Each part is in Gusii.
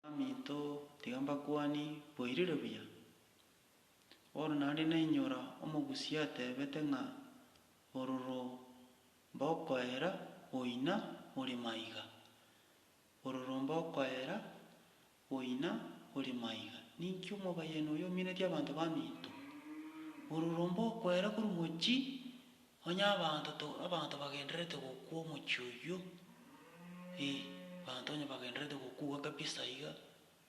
Baminto, tiga mbakwane, boirire buya? Bono naende nainyora omogusii atebete ng'a ororo mbokoera boina ore maiga. Ororo mbokoera boina ore maiga. Ninki omobayani oyo ominetie abanto baminto? Ororo mbokoera korwa mochie Onye abanto to abanto bagendererete gokwa omochie oyio, ee, abanto onye bagendererete gokuwa kabisa iga,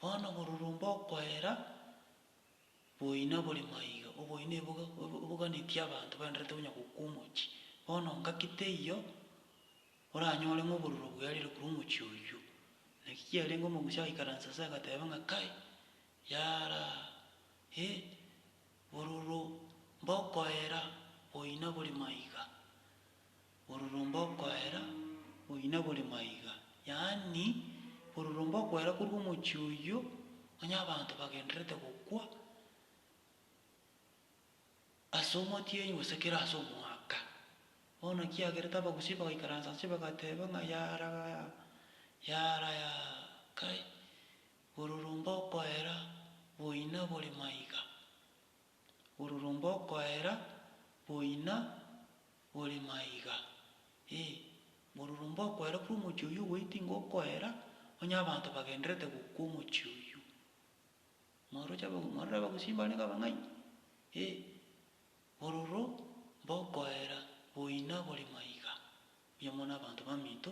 bono oborurumba okoera boina bore maiga, oboina eboga obo oboganetie abanto baenderete onya gokwa omochie. Bono ngaki teiyo oranyore ng'a oboruro bwearire korwa omochie oyio. Naki kiarenge omogusi agaikaransa ase agateba ng'a kai, yaaraa, ee. Bororo mbokoera boina bori maiga, bororo mbokoera boina bori maiga, yaani, bororo mbokoera korwa omochie oyio onye abanto bagendererete gokwa ase omotienyi gose kera ase omwaka. Bono kiagerete abagusii bagaikaransa inse bagateba ng'a yaara, yaara, yaara, kai, Ororomba okoera boina bore maiga. Ororomba okoera boina bore maiga. Ee, ororomba okoera bwo omochie oyio ogoiti ingo okoera, onye abanto bagenderete gokwa omochie oyio. Mwaroche aba, mwarora abagusii mbarenge abang'aini? Ee, ororo mba okoera boina bore maiga. Buya mono abanto baminto